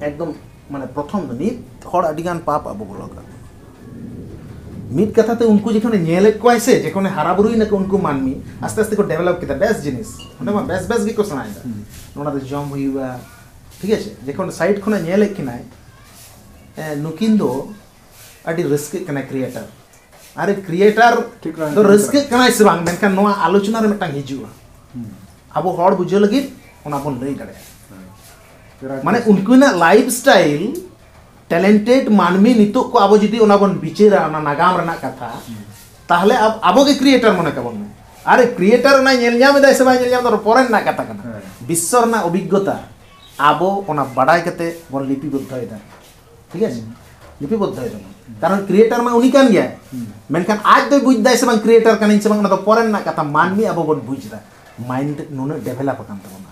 ᱮᱠᱫᱚᱢ ᱢᱟᱱᱮ ᱯᱨᱚᱛᱷᱚᱢ ᱫᱚ ᱱᱤᱛ ᱦᱚᱲ ᱟᱹᱰᱤ ᱜᱟᱱ ᱯᱟᱯ ᱟᱵᱚ ᱵᱚᱞᱚ ᱟᱠᱟᱱ ᱢᱤᱫ ᱠᱟᱛᱷᱟ ᱛᱮ ᱩᱱᱠᱩ ᱡᱚᱠᱷᱚᱱ ᱧᱮᱞᱮᱫ ᱠᱚᱣᱟᱭ ᱥᱮ ᱡᱚᱠᱷᱚᱱ ᱦᱟᱨᱟ ᱵᱩᱨᱩᱭ ᱱᱟᱠᱚ ᱩᱱᱠᱩ ᱢᱟᱹᱱᱢᱤ ᱟᱥᱛᱮ ᱟᱥᱛᱮ ᱠᱚ ᱰᱮᱵᱷᱮᱞᱚᱯ ᱠᱮᱫᱟ ᱵᱮᱥ ᱡᱤᱱᱤᱥ ᱚᱸᱰᱮ ᱢᱟ ᱵᱮᱥ ᱵᱮᱥ ᱜᱮᱠᱚ ᱥᱮᱬᱟᱭᱮᱫᱟ ᱱᱚᱰᱮ ᱫᱚ ᱡᱚᱢ ᱦᱩᱭᱩᱜᱼᱟ ᱴᱷᱤᱠ ᱟᱪᱷᱮ ᱡᱚᱠᱷᱚᱱ ᱥᱟᱭᱤᱰ ᱠᱷᱚᱱᱟᱜ ᱧᱮᱞᱮᱫ ᱠᱤᱱᱟᱭ ᱱᱩᱠᱤᱱ ᱫᱚ ᱟᱹᱰᱤ ᱨᱟᱹᱥᱠᱟᱹᱜ ᱠᱟᱱᱟᱭ ᱠᱨᱤᱭᱮᱴᱟᱨ ᱟᱨᱮ ᱠᱨᱤᱭᱮᱴᱟᱨ ᱫᱚ ᱨᱟᱹᱥᱠᱟᱹᱜ ᱠᱟᱱᱟᱭ ᱥᱮ ᱵᱟᱝ ᱢᱮᱱᱠᱷᱟᱱ ᱱᱚᱣᱟ ᱟᱞᱳᱪᱚᱱᱟ ᱨᱮ ᱢᱤᱫᱴᱟᱝ ᱦᱤᱡᱩᱜᱼᱟ ᱟᱵᱚ ᱦᱚᱲ ᱵᱩᱡᱷᱟᱹᱣ ᱞᱟᱹᱜᱤᱫ ᱚᱱᱟ ᱵᱚᱱ ᱞᱟᱹᱭ ᱫᱟᱲᱮᱭᱟᱜᱼᱟ ᱢᱟᱱᱮ ᱩᱱᱠᱤᱱᱟᱜ ᱞᱟᱭᱤᱯᱷ ᱥᱴᱟᱭᱤᱞ ᱴᱮᱞᱮᱱᱴᱮᱰ ᱢᱟᱹᱱᱢᱤ ᱱᱤᱛᱚᱜ ᱠᱚ ᱟᱵᱚ ᱡᱩᱫᱤ ᱚᱱᱟ ᱵᱚᱱ ᱵᱤᱪᱟᱹᱨᱟ ᱚᱱᱟ ᱱᱟᱜᱟᱢ ᱨᱮᱱᱟᱜ ᱠᱟᱛᱷᱟ ᱛᱟᱦᱞᱮ ᱟᱵᱚ ᱜᱮ ᱠᱨᱤᱭᱮᱴᱟᱨ ᱢᱚᱱᱮ ᱠᱟᱵᱚᱱ ᱢᱮ ᱟᱨᱮ ᱠᱨᱤᱭᱮᱴᱟᱨ ᱚᱱᱟ ᱧᱮᱞ ᱧᱟᱢ ᱮᱫᱟᱭ ᱥᱮ ᱵᱟᱭ ᱧᱮᱞ ᱧᱟᱢ ᱮᱫᱟ ᱯᱚᱨᱮ ᱨᱮᱱᱟᱜ ᱠᱟᱛᱷᱟ ᱠᱟᱱᱟ ᱵᱤᱥᱥᱚ ᱨᱮᱱᱟᱜ ᱚᱵᱷᱤᱜᱽᱜᱚᱛᱟ ᱟᱵᱚ ᱚᱱᱟ ᱵᱟᱰᱟᱭ ᱠᱟᱛᱮ ᱵᱚᱱ ᱞᱤᱯᱤᱵᱚᱫᱽᱫᱷᱚᱭᱮᱫᱟ ঠিক আছে ᱞᱤᱯᱤ ᱵᱚᱫᱽᱫᱷᱚ ᱡᱮᱢᱚᱱ ᱠᱟᱨᱚᱱ ᱠᱨᱤᱭᱮᱴᱟᱨ ᱢᱟ ᱩᱱᱤ ᱠᱟᱱ ᱜᱮᱭᱟᱭ ᱢᱮᱱᱠᱷᱟᱱ ᱟᱡ ᱫᱚᱭ ᱵᱩᱡᱽ ᱫᱟᱭ ᱥᱮ ᱵᱟᱝ ᱠᱨᱤᱭᱮᱴᱟᱨ ᱠᱟᱹᱱᱟᱹᱧ ᱥᱮ ᱵᱟᱝ ᱚᱱᱟ ᱫᱚ ᱯᱚᱨᱮ ᱨᱮᱱᱟᱜ ᱠᱟᱛᱷᱟ ᱢᱟᱹᱱᱢᱤ ᱟᱵᱚ ᱵᱚᱱ ᱵᱩᱡᱽ ᱮᱫᱟ ᱢᱟᱭᱤᱱᱰ ᱱᱩᱱᱟᱹᱜ ᱰᱮᱵᱷᱮᱞᱚᱯ ᱟᱠᱟᱱ ᱛᱟᱵᱚᱱᱟ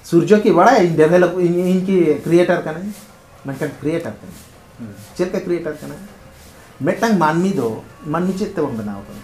ᱥᱩᱨᱡᱚ ᱠᱤ ᱵᱟᱲᱟᱭ ᱤᱧ ᱰᱮᱵᱷᱮᱞᱚᱯ ᱤᱧ ᱤᱧ ᱠᱤ ᱠᱨᱤᱭᱮᱴᱟᱨ ᱠᱟᱹᱱᱟᱹᱧ ᱢᱮᱱᱠᱷᱟᱱ ᱠᱨᱤᱭᱮᱴᱟᱨ ᱠᱟᱹᱱᱟᱹᱧ ᱪᱮᱫ ᱞᱮᱠᱟ ᱠᱨᱤᱭᱮᱴᱟᱨ ᱠᱟᱱᱟᱭ ᱢᱤᱫᱴᱟᱝ ᱢᱟᱹᱱᱢᱤ ᱫᱚ ᱢᱟᱹᱱᱢᱤ ᱪᱮᱫ ᱛᱮᱵᱚᱱ ᱵᱮᱱᱟᱣ ᱟᱠᱟᱱᱟ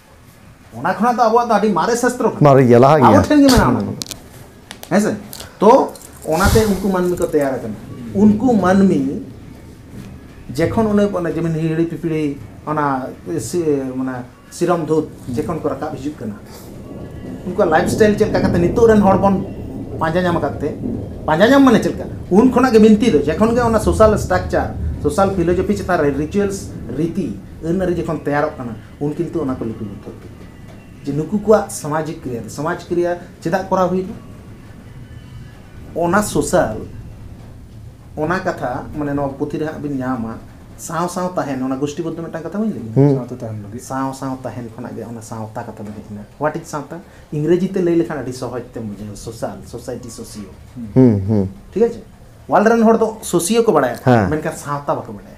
ᱚᱱᱟ ᱠᱷᱚᱱᱟᱜ ᱫᱚ ᱟᱵᱚᱣᱟᱜ ᱫᱚ ᱟᱹᱰᱤ ᱢᱟᱨᱮ ᱥᱟᱥᱛᱨᱚ ᱠᱟᱱᱟ ᱢᱟᱨᱮ ᱜᱮᱭᱟ ᱞᱟᱦᱟ ᱜᱮᱭᱟ ᱟᱵᱚ ᱴᱷᱮᱱ ᱜᱮ ᱢᱮᱱᱟᱜᱼᱟ ᱚᱱᱟ ᱠᱚᱫᱚ ᱦᱮᱸ ᱥᱮ ᱛᱚ ᱚᱱᱟᱛᱮ ᱩᱱᱠᱩ ᱢᱟᱹᱱᱢᱤ ᱠᱚ ᱛᱮᱭᱟᱨ ᱟᱠᱟᱱᱟ ᱩᱱᱠᱩ ᱢᱟᱹᱱᱢᱤ ᱡᱮᱠᱷᱚᱱ ᱚᱱᱮ ᱚᱱᱮ ᱡᱮᱢᱚᱱ ᱦᱤᱦᱤᱲᱤ ᱯᱤᱯᱤᱲᱤ ᱚᱱᱟ ᱢᱟᱱᱮ ᱥᱤᱨᱚᱢ ᱫᱷᱩᱛ ᱡᱮᱠᱷᱚᱱ ᱠᱚ ᱨᱟᱠᱟᱵ ᱦᱤᱡᱩᱜ ᱠᱟᱱᱟ ᱩᱱᱠᱩᱣᱟᱜ ᱞᱟᱭᱤᱯᱷ ᱥᱴᱟᱭᱤᱞ ᱪᱮᱫ ᱞᱮᱠᱟ ᱠᱟᱛᱮ ᱱᱤᱛᱚᱜ ᱨᱮᱱ ᱦᱚᱲ ᱵᱚᱱ ᱯᱟᱸᱡᱟ ᱧᱟᱢ ᱟᱠᱟᱫ ᱛᱮ ᱯᱟᱸᱡᱟ ᱧᱟᱢ ᱢᱟᱱᱮ ᱪᱮᱫ ᱞᱮᱠᱟ ᱩᱱ ᱠᱷᱚᱱᱟᱜ ᱜᱮ ᱵᱤᱱᱛᱤ ᱫᱚ ᱡᱮᱠᱷᱚᱱ ᱜᱮ ᱚᱱᱟ ᱥᱳᱥᱟᱞ ᱥᱴᱨᱟᱠᱪᱟᱨ ᱥᱳᱥᱟᱞ ᱯᱷᱤᱞᱳᱡᱚᱯᱷᱤ ᱪᱮᱛᱟᱱ ᱨᱮ ᱨᱤᱪᱩᱭᱮᱞᱥ ᱨᱤᱛᱤ ᱟᱹᱱ ᱟᱹᱨᱤ ᱡᱚᱠᱷᱚᱱ ᱛᱮᱭᱟᱨᱚᱜ ᱠᱟᱱᱟ ᱩᱱ ᱠᱤᱱᱛᱩ ᱚᱱᱟ ᱠᱚ ᱞᱤᱯᱤ ᱵᱚᱫᱽᱫᱷᱚ ᱠᱮᱫ ᱠᱤᱱᱟ ᱡᱮ ᱱᱩᱠᱩ ᱠᱚᱣᱟᱜ ᱥᱟᱢᱟᱡᱤᱠ ᱠᱨᱤᱭᱟ ᱥᱟᱢᱟᱡᱽ ᱠᱨᱤᱭᱟ ᱪᱮᱫᱟᱜ ᱠᱚᱨᱟᱣ ᱦᱩᱭᱱᱟ ᱚᱱᱟ ᱥᱳᱥᱟᱞ ᱚᱱᱟ ᱠᱟᱛᱷᱟ ᱢᱟᱱᱮ ᱱᱚᱣᱟ ᱯᱩᱛᱷᱤ ᱨᱮ ᱦᱟᱸᱜ ᱵᱤᱱ ᱧᱟᱢᱟ ᱥᱟᱶ ᱥᱟᱶ ᱛᱟᱦᱮᱱ ᱚᱱᱟ ᱜᱩᱥᱴᱤ ᱵᱚᱫᱽᱫᱷᱚ ᱢᱤᱫᱴᱟᱝ ᱠᱟᱛᱷᱟ ᱵᱟᱹᱧ ᱞᱟᱹᱭ ᱥᱟᱶᱛᱮ ᱛᱟᱦᱮᱱ ᱞᱟᱹᱜᱤᱫ ᱥᱟᱶ ᱥᱟᱶ ᱛᱟᱦᱮᱱ ᱠᱷᱚᱱᱟᱜ ᱜᱮ ᱚᱱᱟ ᱥᱟᱶᱛᱟ ᱠᱟᱛᱷᱟ ᱫᱚ ᱦᱮᱡ ᱮᱱᱟ ᱦᱳᱣᱟᱴ ᱤᱡ ᱥᱟᱶᱛᱟ ᱤᱝᱨᱮᱡᱤ ᱛᱮ ᱞᱟᱹᱭ ᱞᱮᱠᱷᱟᱱ ᱟᱹᱰᱤ ᱥᱚᱦᱚᱡ ᱛᱮᱢ ᱵᱩᱡᱷᱟᱹᱣ ᱥᱳᱥᱟᱞ ᱥᱳᱥᱟᱭᱴᱤ ᱥᱳᱥᱤᱭᱳ ᱴᱷᱤᱠ ᱟᱪᱷᱮ ᱚᱣᱟᱨᱞᱰ ᱨᱮᱱ ᱦᱚᱲ ᱫᱚ ᱥᱳᱥᱤᱭᱳ ᱠᱚ ᱵᱟᱲᱟᱭᱟ ᱢᱮᱱᱠᱷᱟᱱ ᱥᱟᱶᱛᱟ ᱵᱟᱠᱚ ᱵᱟᱲᱟᱭᱟ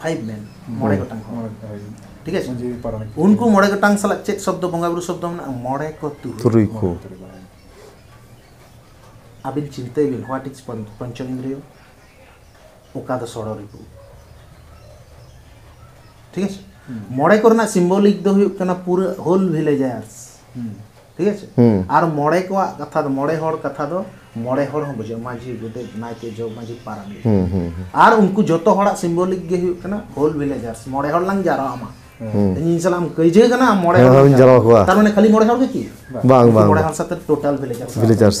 ᱯᱷᱟᱭᱤᱵᱷ ᱢᱮᱱ ᱢᱚᱬᱮ ᱜᱚᱴᱟᱝ ᱦᱚᱲ ᱴᱷᱤᱠ ᱟᱪᱷᱮ ᱩᱱᱠᱩ ᱢᱚᱬᱮ ᱜᱚᱴᱟᱝ ᱥᱟᱞᱟᱜ ᱪᱮᱫ ᱥᱚᱵᱫᱚ ᱵᱚᱸᱜᱟ ᱵᱩᱨᱩ ᱥᱚᱵᱫᱚ ᱢᱮᱱᱟᱜᱼᱟ ᱢᱚᱬᱮ ᱠᱚ ᱛᱩᱨᱩᱭ ᱠᱚ ᱟᱹᱵᱤᱱ ᱪᱤᱱᱛᱟᱹᱭ ᱵᱤᱱ ᱦᱳᱣᱟᱴ ᱤᱡ ᱯᱚᱧᱪᱚ ᱤᱱᱫᱨᱤᱭᱚ ᱚᱠᱟ ᱫᱚ ᱥᱚᱲᱚ ᱨᱤᱯᱩ ᱴᱷᱤᱠ ᱟᱪᱷᱮ ᱢᱚᱬᱮ ᱠᱚᱨᱮᱱᱟᱜ ᱥᱤᱢᱵᱚᱞᱤᱠ ᱫᱚ ᱦᱩᱭᱩᱜ ᱠᱟᱱᱟ ᱯᱩᱨᱟᱹ ᱦᱳᱞ ᱵᱷᱤᱞᱮᱡᱟᱨᱥ ᱴᱷᱤᱠ ᱟᱪᱷᱮ ᱟᱨ ᱢᱚᱬᱮ ᱠᱚᱣᱟᱜ ᱠᱟᱛᱷᱟ ᱫᱚ ᱢᱚᱬᱮ ᱦᱚᱲ ᱠᱟᱛᱷᱟ ᱫᱚ ᱢᱚᱬᱮ ᱦᱚᱲ ᱦᱚᱸ ᱵᱩᱡᱷᱟᱹᱜᱼᱟ ᱢᱟᱹᱡᱷᱤ ᱜᱚᱰᱮᱛ ᱱᱟᱭᱠᱮ ᱡᱚᱜᱽ ᱢᱟᱹᱡᱷᱤ ᱯᱟᱨᱟᱱᱤᱠ ᱟᱨ ᱩᱱᱠᱩ ᱡᱚᱛᱚ ᱦᱚᱲᱟᱜ ᱥᱤᱢᱵᱚᱞᱤᱠ ᱜᱮ ᱦᱩᱭᱩᱜ ᱠᱟᱱᱟ ᱦᱳᱞ ᱵᱷᱤᱞᱮᱡᱟᱨᱥ ᱢᱚᱬᱮ ᱦᱚᱲ ᱞᱟᱝ ᱡᱟᱨᱣᱟ ᱢᱟ ᱤᱧ ᱥᱟᱞᱟᱜ ᱮᱢ ᱠᱟᱹᱭᱡᱟᱹ ᱠᱟᱱᱟ ᱢᱚᱬᱮ ᱦᱚᱲ ᱞᱟᱝ ᱡᱟᱨᱣᱟ ᱠᱚᱣᱟ ᱛᱟᱨ ᱢᱟᱱᱮ ᱠᱷᱟᱹᱞᱤ ᱢᱚᱬᱮ ᱦᱚᱲ ᱜᱮ ᱠᱤ ᱵᱟᱝ ᱵᱟᱝ ᱢᱚᱬᱮ ᱦᱚᱲ ᱥᱟᱛᱮ ᱴᱳᱴᱟᱞ ᱵᱷᱤᱞᱮᱡᱟᱨᱥ ᱵᱷᱤᱞᱮᱡᱟᱨᱥ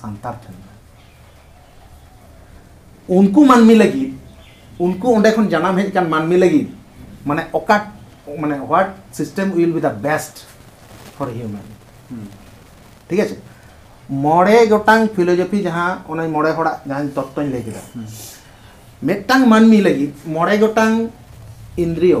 ᱥᱟᱱᱛᱟᱲ ᱴᱷᱮᱱ ᱩᱱᱠᱩ ᱢᱟᱹᱱᱢᱤ ᱞᱟᱹᱜᱤᱫ ᱩᱱᱠᱩ ᱚᱸᱰᱮ ᱠᱷᱚᱱ ᱡᱟᱱᱟᱢ ᱦᱮᱡ ᱟᱠᱟᱱ ᱢᱟᱹᱱᱢᱤ ᱞᱟᱹᱜᱤᱫ ᱢᱟᱱᱮ ᱚᱠᱟ ᱢᱟᱱᱮ what system will be the best for human ᱴᱷᱤᱠ ᱟᱪᱷᱮ ᱢᱚᱬᱮ ᱜᱚᱴᱟᱝ ᱯᱷᱤᱞᱳᱡᱚᱯᱷᱤ ᱡᱟᱦᱟᱸ ᱚᱱᱟ ᱢᱚᱬᱮ ᱦᱚᱲᱟᱜ ᱡᱟᱦᱟᱸ ᱛᱚᱛᱛᱚᱧ ᱞᱟᱹᱭ ᱠᱮᱫᱟ ᱢᱤᱫᱴᱟᱝ ᱢᱟᱹᱱᱢᱤ ᱞᱟᱹᱜᱤᱫ ᱢᱚᱬᱮ ᱜᱚᱴᱟᱝ ᱤᱱᱫᱨᱤᱭᱚ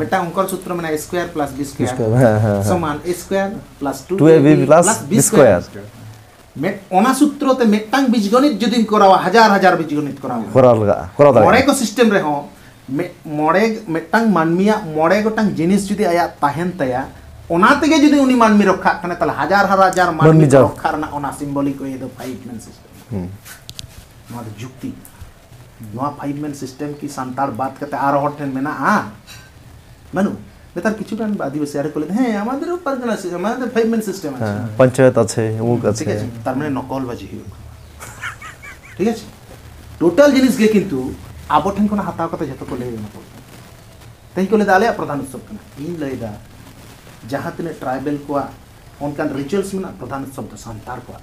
ᱢᱤᱫᱴᱟᱝ ᱚᱝᱠᱚᱞ ᱥᱩᱛᱨᱚ ᱢᱮᱱᱟᱜᱼᱟ ᱥᱠᱚᱭᱟᱨ ᱯᱞᱟᱥ ᱵᱤ ᱥᱠᱚᱭᱟᱨ ᱥᱚᱢᱟᱱ A square plus two A B plus B square ᱢᱮᱫ ᱚᱱᱟ ᱥᱩᱛᱨᱚ ᱛᱮ ᱢᱤᱫᱴᱟᱝ ᱵᱤᱡᱽᱜᱚᱱᱤᱛ ᱡᱩᱫᱤ ᱠᱚᱨᱟᱣᱟ ᱦᱟᱡᱟᱨ ᱦᱟᱡᱟᱨ ᱵᱤᱡᱽᱜᱚᱱᱤᱛ ᱠᱚᱨᱟᱣ ᱠᱚᱨᱟᱣ ᱞᱟᱜᱟᱜᱼᱟ ᱠᱚᱨᱟᱣ ᱫᱟᱲᱮᱭᱟᱜᱼᱟ ᱢᱚᱬᱮ ᱠᱚ ᱥᱤᱥᱴᱮᱢ ᱨᱮᱦᱚᱸ ᱢᱚᱬᱮ ᱢᱤᱫᱴᱟᱝ ᱢᱟᱹᱱᱢᱤᱭᱟᱜ ᱢᱚᱬᱮ ᱜᱚᱴᱟᱝ ᱡᱤᱱᱤᱥ ᱡᱩᱫᱤ ᱟᱭᱟᱜ ᱛᱟᱦᱮᱱ ᱛᱟᱭᱟ ᱚᱱᱟ ᱛᱮᱜᱮ ᱡᱩᱫᱤ ᱩᱱᱤ ᱢᱟᱹᱱᱢᱤ ᱨᱚᱠᱷᱟᱜ ᱠᱟᱱᱟ ᱛᱟᱦᱞᱮ ᱦᱟᱡᱟᱨ ᱦᱟᱡᱟᱨ ᱢᱟᱹᱱᱢᱤ ᱨᱚᱠᱷᱟ ᱨᱮᱱᱟᱜ ᱚᱱᱟ ᱥᱤᱢᱵᱚᱞᱤᱠ ᱳᱭᱮ ᱫᱚ ᱯᱷᱟᱭᱤᱵ ᱢᱮᱱ ᱥᱤᱥᱴᱮᱢ ᱱᱚᱣᱟ ᱫᱚ ᱡᱩᱠᱛᱤ ᱱᱚᱣᱟ ᱯᱷᱟᱭᱤᱵ ᱢᱮᱱ ᱥᱤᱥᱴᱮᱢ ᱠᱤ ᱥᱟᱱᱛᱟᱲ ᱵᱟᱫ ᱠᱟᱛᱮ ᱟᱨᱚ ᱦᱚᱲ ᱴᱷᱮᱱ ᱢᱮᱱᱟᱜᱼᱟ ᱵᱟᱹᱱᱩᱜ ᱱᱮᱛᱟᱨ ᱠᱤᱪᱷᱩ ᱜᱟᱱ ᱟᱹᱫᱤᱵᱟᱹᱥᱤ ᱟᱨ ᱠᱚ ᱞᱟᱹᱭ ᱦᱮᱸ ᱟᱢᱟᱫᱮᱨ ᱯᱟᱨᱜᱟᱱᱟ ᱥᱤᱥᱴᱮᱢ ᱟᱢᱟᱫᱮᱨ ᱯᱷᱟᱭᱤᱵ ᱢᱮᱱ ᱥᱤᱥᱴᱮᱢ ᱟᱪᱷᱮ ᱯᱚᱧᱪᱟᱭᱮᱛ ᱟᱪᱷᱮ ᱚᱢᱩᱠ ᱟᱪᱷᱮ ᱴᱷᱤᱠ ᱟᱪᱷᱮ ᱛᱟᱨ ᱢᱟᱱᱮ ᱱᱚᱠᱚᱞ ᱵᱟᱡᱤ ᱦᱩᱭᱩᱜ ᱠᱟᱱᱟ ᱴᱷᱤᱠ ᱟᱪᱷᱮ ᱴᱳᱴᱟᱞ ᱡᱤᱱᱤᱥ ᱜᱮ ᱠᱤᱱᱛᱩ ᱟᱵᱚ ᱴᱷᱮᱱ ᱠᱷᱚᱱ ᱦᱟᱛᱟᱣ ᱠᱟᱛᱮ ᱡᱚᱛᱚ ᱠᱚ ᱞᱟᱹᱭ ᱮᱢᱟ ᱠᱚ ᱛᱮᱦᱮᱧ ᱠᱚ ᱞᱟᱹᱭᱫᱟ ᱟᱞᱮᱭᱟᱜ ᱯᱨᱚᱫᱷᱟᱱ ᱩᱛᱥᱚᱵ ᱠᱟᱱᱟ ᱤᱧ ᱞᱟᱹᱭᱫᱟ ᱡᱟᱦᱟᱸ ᱛᱤᱱᱟᱹᱜ ᱴᱨᱟᱭᱵᱮᱞ ᱠᱚᱣᱟᱜ ᱚᱱᱠᱟᱱ ᱨᱤᱪᱩᱣᱟᱞᱥ ᱢᱮᱱᱟᱜ ᱯᱨᱚᱫᱷᱟᱱ ᱩᱛᱥᱚᱵ ᱫᱚ ᱥᱟᱱᱛᱟᱲ ᱠᱚᱣᱟᱜ